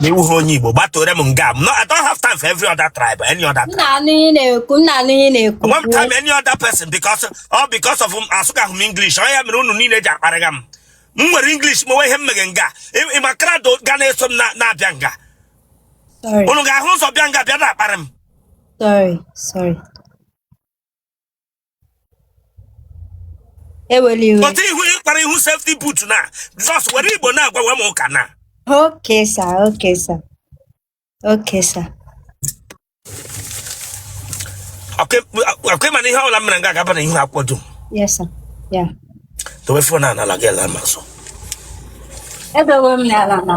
na ị wụhụ onye Igbo gbatore m nga m nọ I don't have time for every other tribe any other tribe. ị na-anụ ihe m na-ekwu ị na-anụ ihe m na-ekwu One time any other person because all because of asụkaghị m English ọ ya mere unu niile ji akparịga m m were English mewe ihe m meghe nga Ị- ị ma crowd ga na-eso m na- na-abịa nga sorry unu ga-ahụ ụzọ bịa nga bịa na-akparị m sorry sorry eweli iwe pụta ihu ịkpara ihu safety but na just were Igbo na-agwawa m ụka na okay sir okay sir okay sir ọ kwa ị ma na ihe ọbụla m mere nga a ga-aba na ihu akwụkwọ dum yes sir ya dowe phone a n'ala gị ala ma nso edowe m n'ala na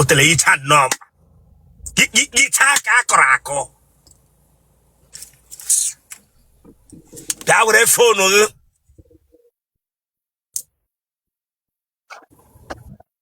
otele icha nnọọ icha ka a kọrọ akọ bịa were phone gị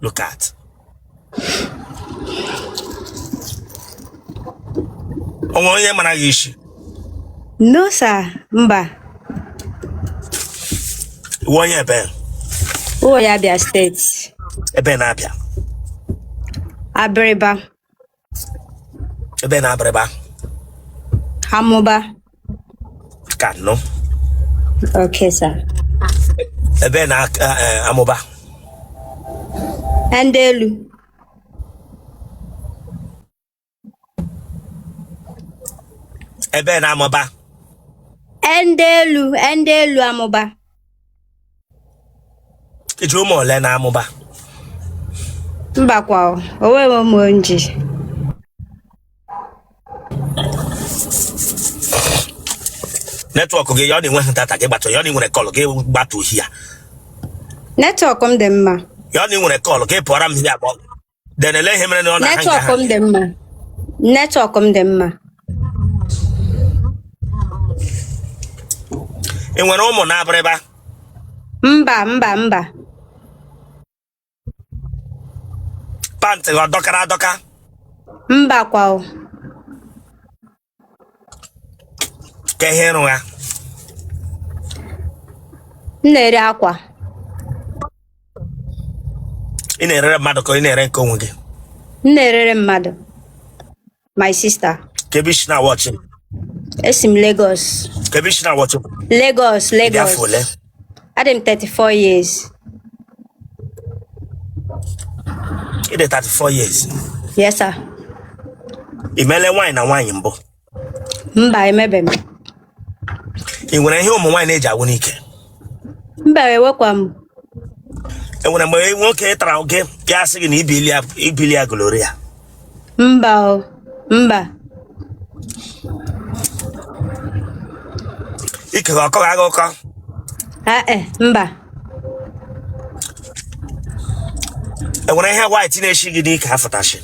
Look at. O nwe onye mara gị isi. No sir, mba. Ị wụ onye ebe? Wụ onye Abia State. Ebe na Abia? Abịrịba. ebe na Abịrịba Amụba. ka nọ Okay, sir. ebe na aka- eh, Amụba Ndị elu. ebe na Amụba Ndị elu. Ndị elu Amụba. i ji ụmụ ole na Amụba mba kwa o o nweghị ụmụ m ji network gị ya ọ na-enweghị data gị gbatụ ya ọ na-enwere call gị gbatụ here network m dị mma ya ọ na-enwere call gị pụọra m here then ele ihe mere na ọ na-ahang network ha m dị mma network m dị mma ị nwere ụmụ na Abịrịba mba mba mba pant gị ọ dọkara adọka mba kwa o ka ihe ị rụgha m na-ere akwa ị na-erere mmadụ ka ị na-ere nke onwe gị m na-erere mmadụ my sister ka ebe i si na-awatch m esi m Lagos ka ebe i si na-awatch m Lagos ị dị afọ Lagos ole Adị m 34 years. Ị dị 34 years. Yes, sir. Ị meele nwaanyị na nwaanyị mbụ. Mba, emebe m. Ị nwere ihe ụmụ nwaanyị na-eji agwụ n'ike. Mba, enwekwa m. E nwere mgbe nwoke tara gị ya asị gị na ibili ya ibili ya gonorrhea. Mba o, mba. Ike ọ kọrọ gị ọkọ. Ah, eh, mba. Enwere ihe white na-eshi gị n'ike afụtashi.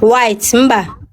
White, mba.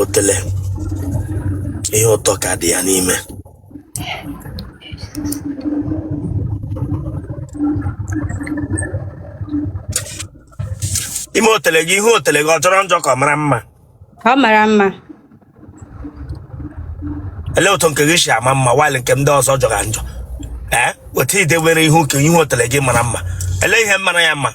otele ihe ụtọ ka dị ya n'ime ime otele gị ihu otele gị ọ jọrọ njọ ka ọ mara mma ọ mara mma elee otu nke gị si ama mma while nke ndị ọzọ jọga njọ ee otu i dewere ihu ka ihu otele gị mara mma elee ihe mara ya mma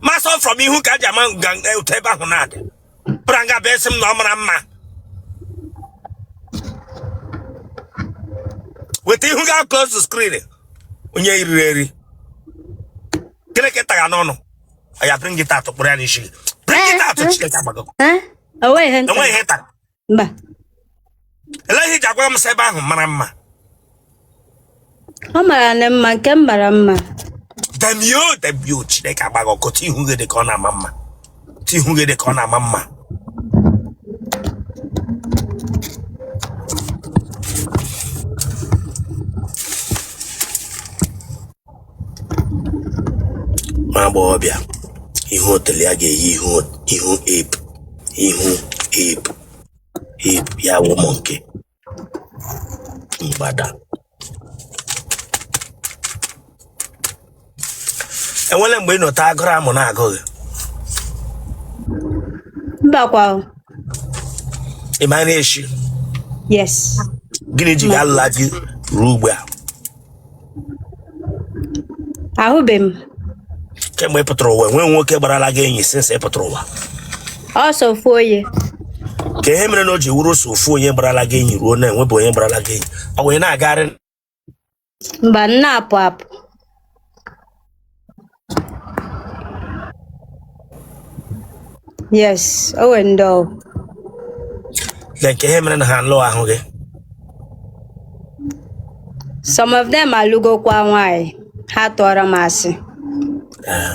ma sọ from ihu ka a ji ama otu ebe ahụ na-adị braga ebe a sị m na ọ mara mma weta ihu gị close the screen onye eriri eri gịnị ka ị tagha n'ọnụ ya bring it out kpụrụ ya n'isi bring it out chineke agbago enweghị ihe ị tara mba elee ihe i ji agwa m sị ebe ahụ mara mma ọ maranụ mma nke m mara mma damn you damn you chineke agba gị ọkụ otu ihu gị dị ka ọ na-ama mma otu ihu gị dị ka ọ na-ama mma nwa agbọghọbịa ihu otele ya ga-eyi ihu ihu ape ihu ape ape ya wụ monkey mgbada enwele mgbe ị nọta agụrụ amụ na-agụ gị Mbakwa. o. ị ma na-eshi Yes. gịnị ji gị alụla di ruo ugbu a ahụbeghị m kemgbe ị pụtara ụwa enweghị nwoke gbarala gị enyi since ị pụtara ụwa ọ sọ ofu onye ka ihe mere na o ji wụrụ sọ ofu onye gbarala gị enyi ruo now enwebụ onye gbarala gị enyi o wee na-agagharị mba m na-apụ apụ yes o nwere ndị ọ na nke ihe mere na ha alụhụ gị some of them alụgokwa nwaanyị ha tụụrụ m asị Ee.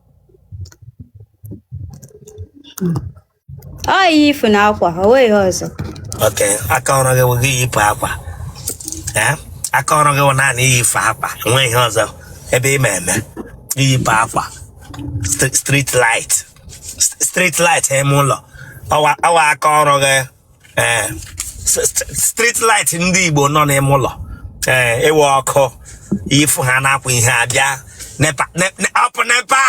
ọ ihe ifu na akwa o nweghị ihe ọzọ okay aka ọrụ gị bụ iyipụ akwa ee aka ọrụ gị bụ naanị iyipụ akwa enweghị ihe ọzọ ebe ị ma eme iyipụ akwa St- street light St- street light ime ụlọ ọ wụ ọ wụ aka ọrụ gị ee eh, street light ndị Igbo nọ n'ime ụlọ ee eh, ị wụ ọkụ ifu ha na-akwụ ihe abịa NEPA up NEPA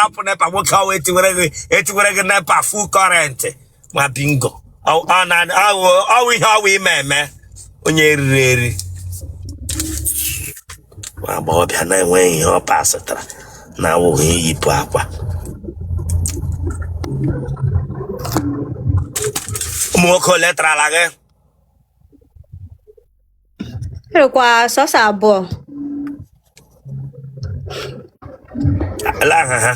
up NEPA nwoke ọwa etiwere gị etiwere gị NEPA full current ma bingo ọ wụ ihe ọ wụ ị ma eme onye eriri eri nwa agbọghọbịa na-enweghị ihe ọ pasịtara na awụghị iyipụ akwa ụmụ nwoke ole tarala gị Erukwa sọsọ abụọ. elee aha ha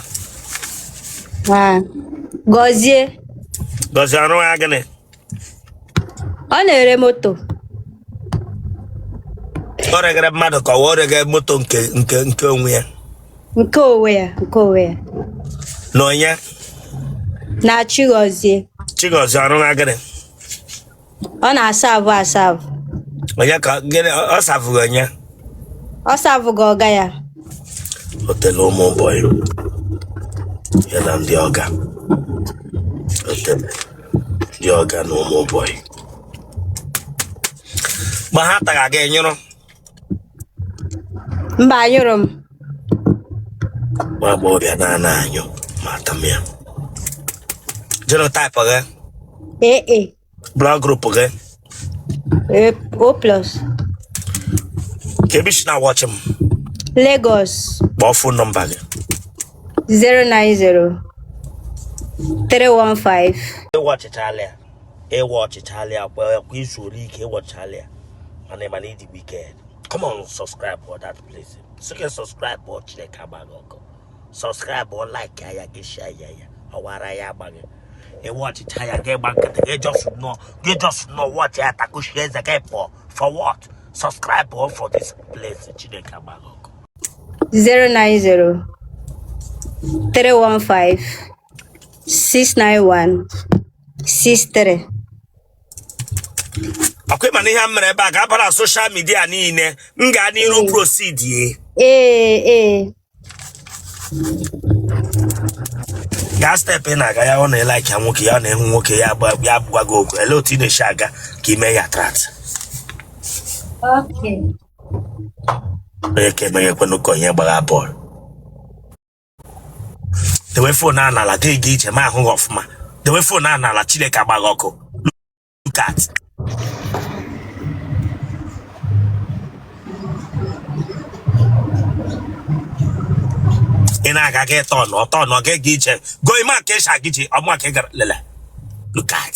Ah, Gọzie. Gọzie ọ rụga gịnị ọ na-ere moto o regara mmadụ ka o regara moto nke nke nke onwe ya nke onwe ya nke onwe ya na onye na Chigozie Chigozie ọrụ na gịnị ọ na-asavụ asavụ onye ka gịnị ọ ọ savụga onye ọ savụga ọga ya o tele ụmụ bọyị ya na ndị ọga o tele dị ọga na ụmụ bọyị ma ha taga gị ị nyụrụ mba anyụrụ m nwa agbọghọbịa na-ana anyụ ma ata m ya genotype gị ee e blood group gị Eh, O plus. kee ebe i si na-awọchị m Lagos kpọọ phone number gị 090 315 ị wọchịchaala ya ị wọchịchaala ya kwa kwa i zuole ike ị wọchịchaala ya mana ị ma na ị dị wiked come on subscribe for that place sị gị subscribe or Chineke agba gị ọkụ subscribe or like ya gị share ya ya ọ wụ ara ya agba gị ị wọchịcha ya gị gba nkịtị gị just nọ gị just nọ wọchị ya takuchie eze gị pụọ for what subscribe or for this place Chineke agba gị ọkụ 090 315 691 63 ọkwa ị ma na ihe a mere ebe a ga-abara social media niile m gaa n'iru prosidie ee ee gaa step ị na-aga ya ọ na-elike ya nwoke ya ọ na-ahụ nwoke ya agba- ya agwa gị okwu ele otu ị na-esi aga ka ime ya trat Okay. onye ka emeghe ekwenụ ka onye gbagha bọọlụ dewe fon a n'ala gị jee ije m ahụ gị ọfụma dewe fon a n'ala Chineke agba gị ọkụ look at. ị na-aga gị turn turn ọ gaghị iche go maka ịsha gị ji ọmụ ka ị gara lele look at